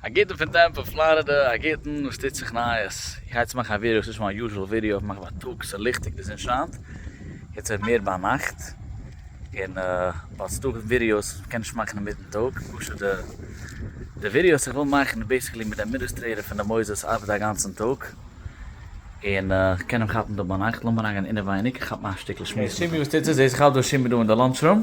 א גוטן פון טעמפא פלארידע א גוטן וואס טוט זיך נייעס? איך גיי יעצט מאכן א ווידעא וואס איז נישט מיין יוזשעל ווידעא איך מאך בייטאג ס'איז ליכטיג די זון שיינט יעצט ווערט מער ביינאכט און באצטאג ווידעאס קען נישט מאכן אינמיטן טאג פשוט די די ווידעאס איך וויל מאכן איז בעיסיקלי מיט די אדמיניסטרעיטער פון די מוסדות ארבעט אגאנצן טאג און איך קען אים כאפן דא ביינאכט לאמיר אריינגיין אינעווייניג איך כאפ מיין שטיקל שמועס מיט אים.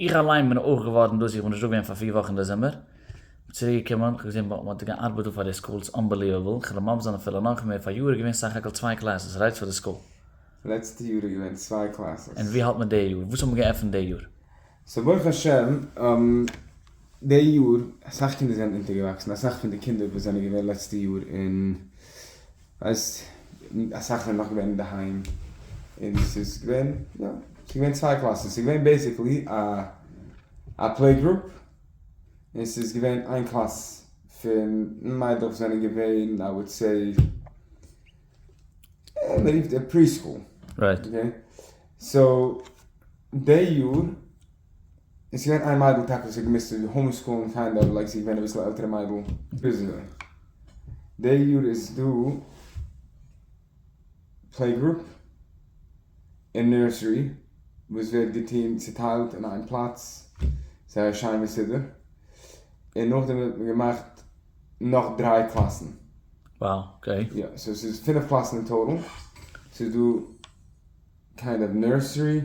איך אליין בין אויך געווארן דאס איך בין נישט דא געווען פאר פיר וואכן דעזעמבער, כ'בין צוריק געקומען, כ'האב געזען וואו מ'האט געארבעט דא פאר די סקול, ס'איז אנבעליוועבל, כ'העל אים אפזאגן אפילו נאך מער, פאריאר איז געווען סך הכל צוויי קלעסעס, ער רייצט פאר די סקול. לעצטע יאר איז געווען צוויי קלעסעס. און ווי האלט מען די יאר? וואס האט מען געעפענט די יאר? סאו ברוך השם די יאר אסאך קינדער זענען אונטערגעוואקסן, אסאך פון די קינדער וואס זענען געווען לעצטע יאר אין ווייסט, אסאך זענען נאך געווען אינדערהיים, און ס'איז געווען, יא, ס'איז געווען צוויי קלאסן, ס'איז געווען בעיסיקלי א א פלעי גרופ, און ס'איז געווען איין קלאס פון מיידלעך זענען געווען איי וואלד סעי, מען רופט דעם פרי סקול, אקעי, סאו די יאר. און ס'איז געווען איין מיידל טאקע וואס האט געמוזט צו האום סקולן קיינד אוו לייק זי איז געווען אביסל עלטערע מיידל ביז די יאר איז דא פלעי גרופ און נורסערי וואס ווערט געטון צוטיילט אין איין פלאץ זייער שיין מסודר און נאכדעם האט מען געמאכט נאך דריי קלאסן וואו אקעי יא סאו ס'איז פינף קלאסן אין טאטאל ס'איז דא קיינד אוו נורסערי.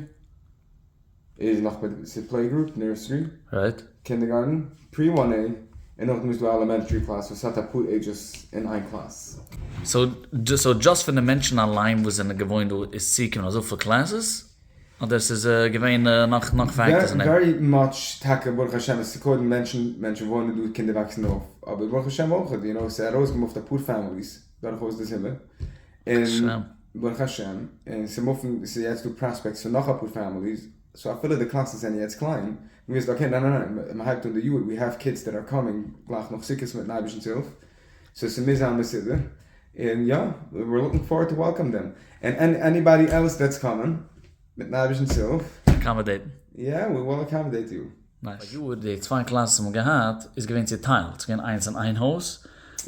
איז נאך מיט ס'איז פלעי גרופ, נורסרי, קינדערגארטן, פרי וואן עי, און נאכדעם איז דא עלעמענטרי קלאס וואס האט אפאר עידזשעס אין איין קלאס. סאו דזשאסט פון די מענטשן אליין וואס זענען געוואוינט דא איז צוגעקומען אזויפיל קלעסעס? אדער ס'איז געווען נאך נאך פעקטערס אין דעם? ווערי מאטש טאקע ברוך השם עס איז קודם מענטשן, מענטשן וואוינען דא, קינדער וואקסן אויף, אבער ברוך השם אויך, יו נאו, ס'איז ארויסגעמופט אפאר פעמיליס. דורכאויס די זומער, און ברוך השם, און ס'איז מופן, ס'איז יעצט דא פראספעקטס פון נאך אפאר פעמיליס, סאו אפילו די קלאסן זענען יעצט קליין, מ'וויסט אקעי ניין ניין ניין, מ'הייבט אן די יאר, ווי העוו קידס דעט אר קאמינג גלייך נאך סוכות מיטן אייבערשטנ'ס הילף, סאו ס'מוז זיין מסודר, און יא, וויר לוקינג פארוורד טו וועלקאם דעם, און עניבאדי עלס דעטס קאמינג, מיטן אייבערשטנ'ס הילף. אקאמאדעיטן. יא, וויל אקאמאדעיט יו. פאר יאר די צוויי קלאסעס האבן געהאט איז געווען צוטיילט ס'איז געווען איינס אין איין הויז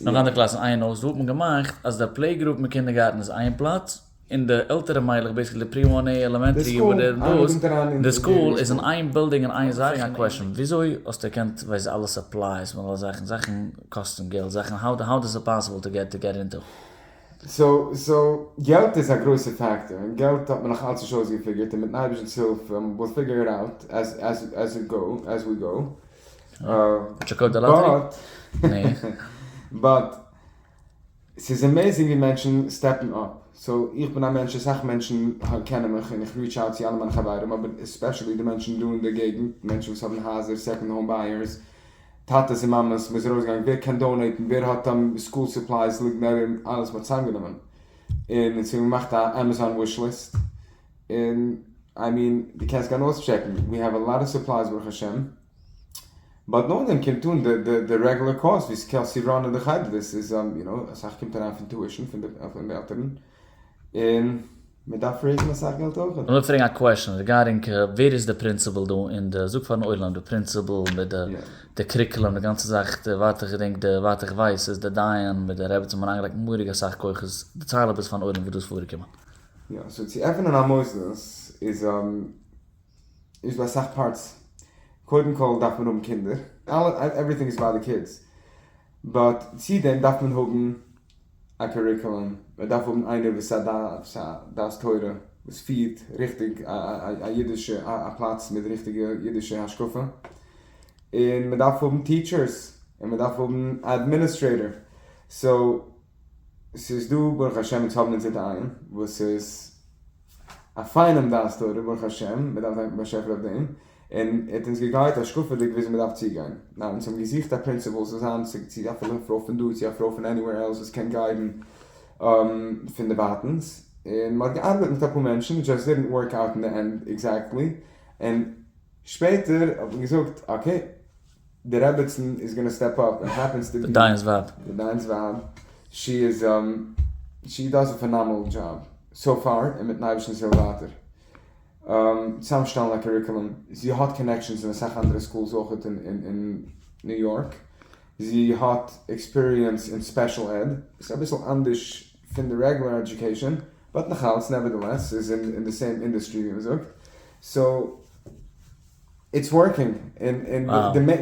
נאך אנדערע קלאסעס אין איין הויז דא האט מען געמאכט אז די פלעי גרופ מיט קינדערגארטן איז איין פלאץ און די עלטערע מיילעך בעיסיקלי די פרי וואן עי עלעמענטרי וואט עווער דאס די סקול איז אין איין בילדינג אין איין זאך א קוועשען וויאזוי האסטו געקענט ווייז אלע סופלייס און אלע זאכן זאכן קאסטן געלט זאכן האו דאס איז פאסיבעל טו געט אינטו. סאו געלט איז א גרויסע פאקטאר, און געלט האט מען נאך אלץ נישט אויסגעפיגערט, און מיטן אייבערשטנ'ס הילף וויל פיגער איט אוט עז איט גאו, עז ווי גאו. באט ס'איז עמעזינג ווי מענטשן סטעפן אפ, סאו איך בין א מענטש, אסאך מענטשן קענען מיך, און איך ריעטש אוט צו אלע מיינע חברים, אבער עספעשעלי די מענטשן דא אין די געגנט, מענטשן וואס האבן הייזער, סעקאנד האום בייערס, טאטעס און מאמעס מ'איז ארויסגעגאנגען ווער קען דאונעיטן ווער האט אן סקול סופלייס ליגנערים אלעס מ'האט צוזאמגענומען און אונז האבן געמאכט א עמעזאן וויש ליסט און איי מיען די קענסט גיין אויסטשעקן ווי העוו א לאט אוו סופלייס ברוך השם באט נאכדעם קומט אן די רעגולער קאסט ווי סקעלסי ראנען די חדר דאס איז יו נאו אסאך קומט אריין פון טועשן פון די עלטערן. און מען דארף רעיזן אסאך געלט אויכעט. איך וויל פרעגן א קוועשען ריגארדינג ווער איז די פרינציפעל דא אין די זאג פארן עולם די פרינציפעל מיט די די קריקלעם די גאנצע זאך די ווייט איך געדענק די ווייט איך ווייס איז די דיין מיט די רעבעצין האבן אריינגעלייגט מורא'דיג אסאך כוחות דערצייל עפעס פארן עולם וואס דא איז פארגעקומען. יא, סאו צו עפענען א מוסדות איז. איז ביי אסאך פארטס קודם כל דארף מען האבן קינדער, עווריטינג איז ביי די קידס, באט צו דעם דארף מען האבן א קוריקולום, מען דארף האבן איינער וואס איז א דעת תורה וואס פירט ריכטיג א אידישע א פלאץ מיט ריכטיגע אידישע השקפה, און מען דארף האבן טיטשערס, און מען דארף האבן א אדמיניסטרעיטאר, סאו ס'איז דא ברוך השם אונז האבן אונזער דיין וואס איז א פיינעם דעת תורה ברוך השם מען דארף דאנקען באשעפער אויף דעם און ער האט אונז געגיידט השקפה'דיג וויאזוי מען דארף צוגיין ניין אונז האבן געזוכט א פרינציפעל זאל זיין צו צו א פרוי פון דא צו א פרוי פון עניוועיר עלס וואס קען גיידן פון דערווייטענס און מ'האט געארבעט מיט אפאר מענטשן איט זשאסט דידנט ווארק אויט אין די ענד עקזעקטלי און שפעטער האט מען געזאגט אקעי. די רעבעצן איז גאנא סטעפ אפ און העפענס טו בי די דיין'ס ווייב די דיין'ס ווייב שי איז שי דאז א פענאמענעל דזשאב סאו פאר און מיטן אייבערשטנ'ס הילף ווייטער צוזאם שטעלן א קוריקולום זי האט קאנעקשאנס אין אסאך אנדערע סקולס אויכעט אין ניו יארק זי האט עקספיריענס אין ספעשל עד ס'איז אביסל אנדערש פון די רעגולער עדיוקעישאן באט נאכאלץ נעווערדעלעס ס'איז אין די סעים אינדעסטרי ווי מ'זאגט סאו. איטס ווארקינג, און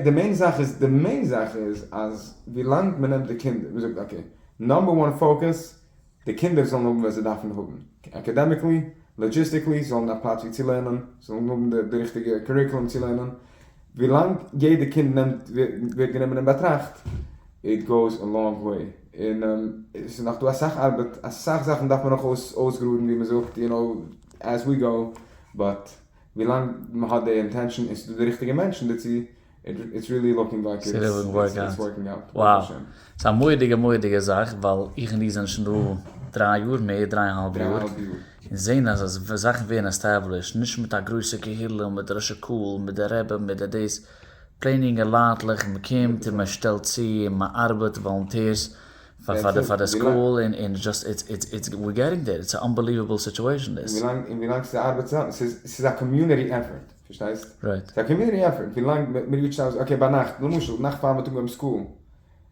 די מעין זאך איז, די מעין זאך איז אז ווילאנג מ'נעמט די קינדער, ווי מ'זאגט אקעי, נאמבער וואן פאוקעס, די קינדער זאלן האבן וואס זיי דארפן האבן, אקעדעמיקלי, לאגיסטיקלי, זאלן האבן א פלאץ ווי צו לערנען, זאלן האבן די ריכטיגע קוריקולום צו לערנען, ווילאנג יעדע קינד נעמט, ווערט גענומען אין באטראכט, איט גאוס א לאנג וועי, און עס איז נאך דא אסאך ארבעט, אסאך זאכן דארף מען נאך אויסגראדן ווי מ'זאגט, יו נאו, עז ווי גאו, באט. ווילאנג מען האט די אינטענשאן און ס'איז דא די ריכטיגע מענטשן דערצו, איטס ריעלי לוקינג לייק איטס ווארקינג אוט, ברוך השם. וואו, ס'איז א מורא'דיגע מורא'דיגע זאך, ווייל איך און דו זענען שוין דא דריי יאר, מער דריי און האלב יאר, און זעהן אז זאכן ווערן עסטעבלישט, נישט מיט א גרויסע קהילה, מיט די ראשי קהל, מיט די רעבע, מיט די דאס, פלעין יונגע לייטלעך, מען קומט און מען שטעלט צו, און מען ארבעט, וואלונטירס, פאר די פאר די סקול און און זשאסט איטס איטס איטס וויר געטינג דעיר איטס א אנבעליוועבל סיטועשן און דעס. און ווילאנג ס'איז א ארבעט צוזאמען ס'איז ס'איז א קאמיונעטי עפערט פארשטייסט ס'איז א קאמיונעטי עפערט ווילאנג מ מ'ריעטשט אויס אקעי ביינאכט למשל נאכט פאר מיטאג ביים סקול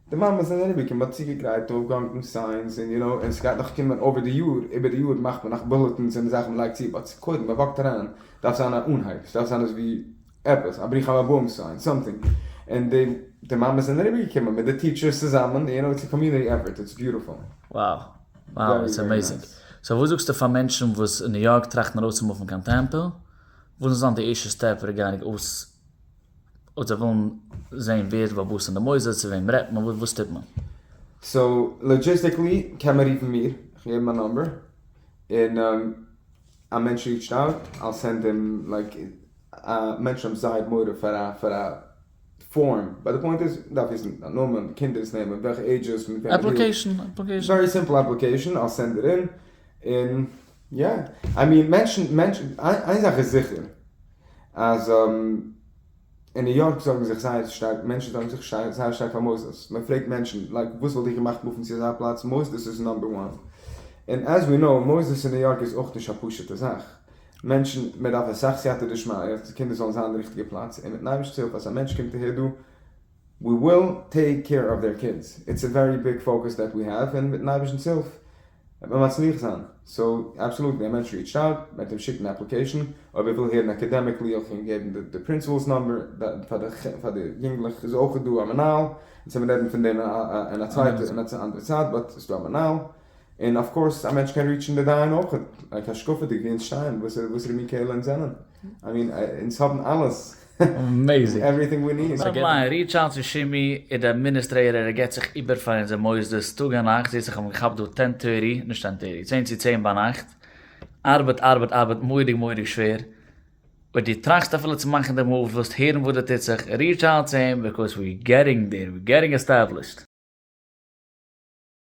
די מאמעס זענען אריבער מ'האט צוגעגרייט אויפגעהאנגן סיינס און יו נאו און ס'גייט נאך קומען אויבער די יאר איבער די יאר מאכט מען נאך בולעטינס און זאכן מ'לייגט צו באט קודם מ'וואקט אריין דארף זיין א אנהייב ס'דארף זיין אזווי עפעס א ברוך הבאים סיין סאמטינג און די די מאמעס זענען אריבער געקומען מיט די טיטשערס צוזאמען יו נאו איטס א קאמיוניטי עפערט איטס ביוטיפול. Wow wow איטס עמעיזינג. סאו וואס זאגסטו פאר מענטשן וואס אין ניו יארק טראכטן ארויסצומופן קיין טעמפא? וואס זאל זיין די ערשטע סטעפ ריגארדינג אויס אויב זיי ווילן זעהן ווער איז באבוס אין די מוסדות צו וועם רעדט מען וואס טוט מען? סאו לאגיסטיקלי קען מען רופן מיר, כ'געב מיין נאמבער, און א מענטש ריעטשט אוט, אייל סענד אים לייק א מענטשן האבן זייער מורא פאר א פאר א פארם, באט די פוינט איז מ'דארף וויסן דיין נאמען, די קינדער'ס נעמען, וועלכע עידזשעס, מיט וועמען דו אפליקעישן אפליקעישן ווערי סימפל אפליקעישן, אייל סענד איט אין, און יא, איי מין מענטשן מענטשן איין זאך איז זיכער אז. אין ניו יארק זארגן זיך זייער שטארק, מענטשן זארגן זיך זייער שטארק פאר מוסדות, מען פרעגט מענטשן לייק וואס וואלט איך געמאכט מופן צו אזא פלאץ, מוסדות איז נאמבער וואן, און עז ווי נאו מוסדות אין ניו יארק איז אויך נישט א פשוטע זאך, מענטשן מען דארף אסאך סייעתא דשמיא אז די קינדער זאלן זיין אין די ריכטיגע פלאץ, און מיטן אייבערשטנ'ס הילף אז א מענטש קומט אהער דא ווי וויל טעיק קעיר אוו דער קידס, איטס א ווערי ביג פאוקעס דעט ווי העוו, און מיטן אייבערשטנ'ס הילף וועט מען מצליח זיין. סאו אבסאלוט דער מענטש ריעטשט אוט, מען וועט אים שיקן א אפליקעישן, אויב ער וויל הערן אקעדעמיקלי אויך אים געבן די פרינסיפעלס נאמבער, פאר די יונגלעך איז אויך דא א מנהל, אונז קען מען רעדן פון דעם אין א צווייטע אין א אנדערע צייט, באט ס'איז דא א מנהל, און אף קאורס א מענטש קען ריעטשן די דיין אויך, לייק השקפה'דיג ווי אונז שטייען, וואסערע מין קהלה אונז זענען, איי מין אונז האבן אלעס. עוועריטינג ווי ניד. נעווער מיינד, ריעטש אוט צו שימי, איז די אדמיניסטרעיטאר, ער גיבט זיך איבער פאר אונזער מוסדות טאג און נאכט, זעהסט איך האב אים געכאפט דא טען טערטי, נישט טען טערטי, צען צו צען ביינאכט, ארבעט ארבעט ארבעט מורא'דיג מורא'דיג שווער, אויב דו טראכסט אפילו צו מאכן די מאוו, וועסט הערן וואס דא טוט זיך, ריעטש אוט צו אים, ביקאויס ווי געטינג דעיר, ווי געטינג עסטעבלישד.